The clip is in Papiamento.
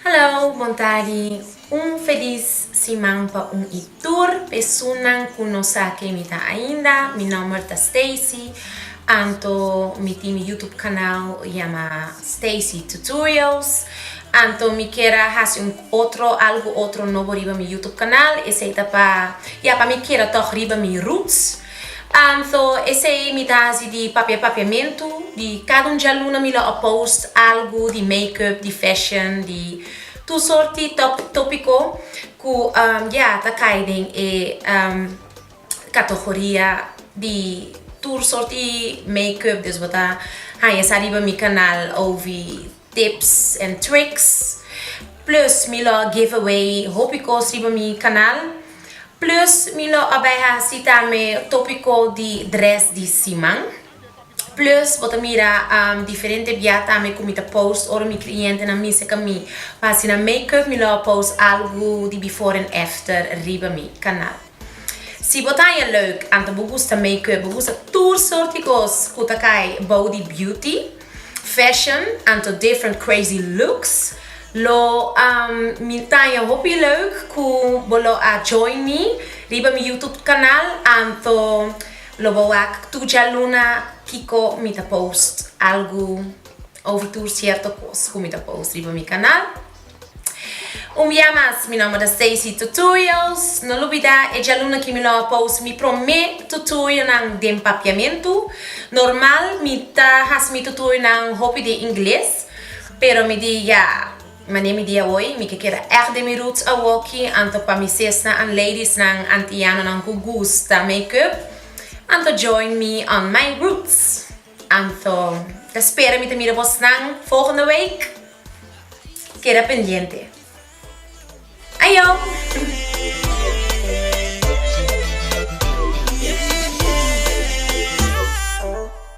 Hallo, bon tardi. Un felis siman pa un i tur pesunnan ku no sa ken mi ta ainda. Mi nòmber ta Stacy. Anto mi tin mi YouTube kanal yama Stacy Tutorials. Anto mi kier a hasi un otro, algu otro nobo riba mi YouTube kanal. Esei ta pa, ya pa mi keda tòg riba mi roots. Am so esey mi ta hasi di papia papiamentu di cada un djaluna mi lo a post algu di make up di fashion di tur sorti top topico cu am ya ta cay den e am catogoria di tur sorti make up desbo ta haya sa riba mi canal ovi Tips and tricks plus mi lo give away hopi cos riba mi canal plus mi lo a bay haci tambe topico di dress di siman plus bo ta mira diferente bia tambe cu mi ta post ora mi clientenan misa ca mi pa hacina makeup mi lo a post algo di before and after riba mi canal. Si bo ta haña leuk, anto bo gusta make-up, bo gusta tur sort di kos ku ta kai bou di beauty, fashion, anto different crazy looks, lo mi ta haña hopi leuk ku bo lo a join mi riba mi YouTube kanal anto lo bo wak tur djaluna kiko mi ta post algu over tur sierto kos ku mi ta post riba mi kanal. Un bia mas, mi nomber ta Stacy Tutorials. No lubida e djaluna ki mi lo a post mi prome tutorionan den papiamentu. Normal mi ta hasi mi tutorionan hopi den ingles, pero mi di ya, mane mi di awoy, mi ke keda ègt den mi roots awoki, anto pa mi sesnan and ladiesnan antianonan ku gusta make-up, anto join me on my roots. Anto, ta spera mi ta mira bosnan volgende week. Keda pendiente. Ajo!